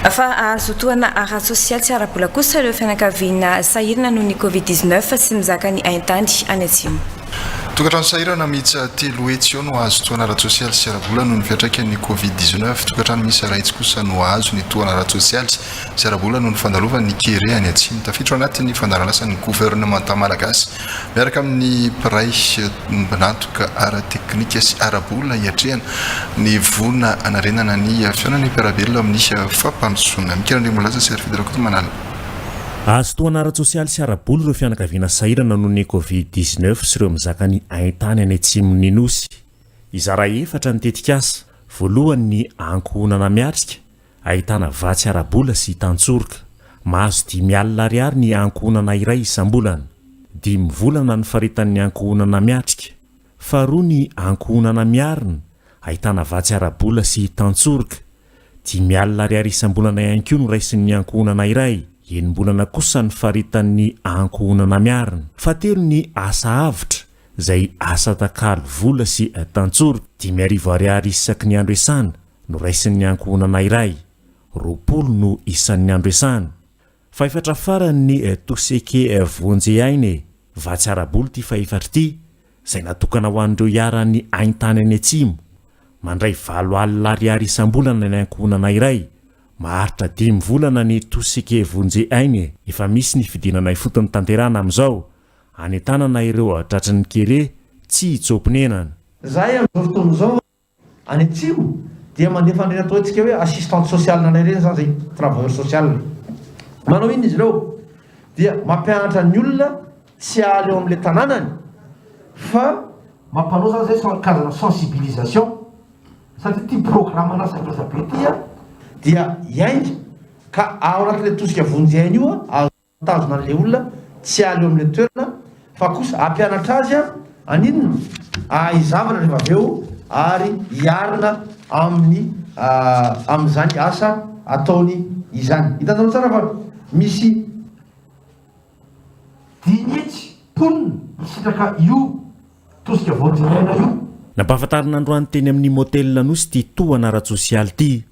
Fa hahazo tohana ara-tsosialy sy ara-bola kosa ireo fianakaviana sahirana noho ny Covid dix neuf sy mizaka ny haintany any Atsimo. Tokantrano sahirana miisa telo hetsy eo no hahazo tohana ara-tsosialy sy ara-bola noho ny fiantraikan'ny Covid dix neuf. Tokantrano miisa iray hetsy kosa no hahazo ny tohana ara-tsosialy sy ara-bola noho ny fandalovan'ny kere any Atsimo. Tafiditra ao anatin'ny fandaharan'asan'ny governemanta malagasy Miaraka amin'ny mpiray ombon'antoka ara-teknika sy ara-bola hiatrehana ny voina hanarenana ny fihaonana ny mpiara-belona amin'ny fampandrosoana. Mikira Andriambola Laza sy Arifedy Rakotomanala. Azotohana ara-tsosialy sy ara-bola ireo fianakaviana sahirana noho ny Covid dix-neuf sy ireo mizaka ny haintany any atsimon'ny Nosy. Hizara efatra ny tetikasa. Voalohany ny ankohonana miatrika, Ahitana vatsy ara-bola sy tantsoroka. Mahazo dimy alina ariary ny ankohonana iray isam-bolana. Dimy volana ny faritany ankohonana miatrika. Faharoa ny ankohonana miarina, ahitana vatsy ara-bola sy tantsoroka. Dimy alina ariary isam-bolana ihany koa no raisin'ny ankohonana iray. Enim-bolana kosa ny faritan'ny ankohonana miarina. Fahatelo ny asa avotra, izay asa atakalo vola sy tantsoroka. Dimy arivo ariary isaky ny andro iasana. Noraisin'ny ankohonana iray, roapolo no isan'ny andresany. Fahefatra farany ny Toseke Vonjy Aina e! Vatsy ara-bola ity fahefatra ity, izay natokana ho an'ireo iharan'ny haintany any Atsimo. Mandray valo alina ariary isam-bolana ny ankohonana iray. Maharitra dimy volana ny Toseke Vonjy Aina e! Efa misy ny fidinana ifotony tanterahana amin'izao, hanentanana ireo tratry ny kere tsy hitsoa-ponenana. Izahay amin'izao fotoana izao Any atsimo dia mandefa an'ireny atao antsika hoe assistante sociale anay ireny izany izay, travailleur social. Manao inona izy ireo? Dia mampianatra ny olona tsy hahaleo amin'ilay tanànany fa. Mampanao izany izay sans karazana sensibilisation satria ity programme na zavatra be ity dia hiainga ka ao anatin'ilay tosika vonjy aina io azo. Mitazona an'ilay olona tsy aleo amin'ilay toerana fa kosa hampianatra azy haninona? Hahay zavatra rehefa avy eo ary hiarina amin'ny amin'izany asa ataony izany. Hitanareo tsara fa misy dinihitsy mponina misitraka io tosika vao dinihaina io. Nampahafantarina androany teny amin'ny Motel Anosy ity tohana ara-tsosialy ity.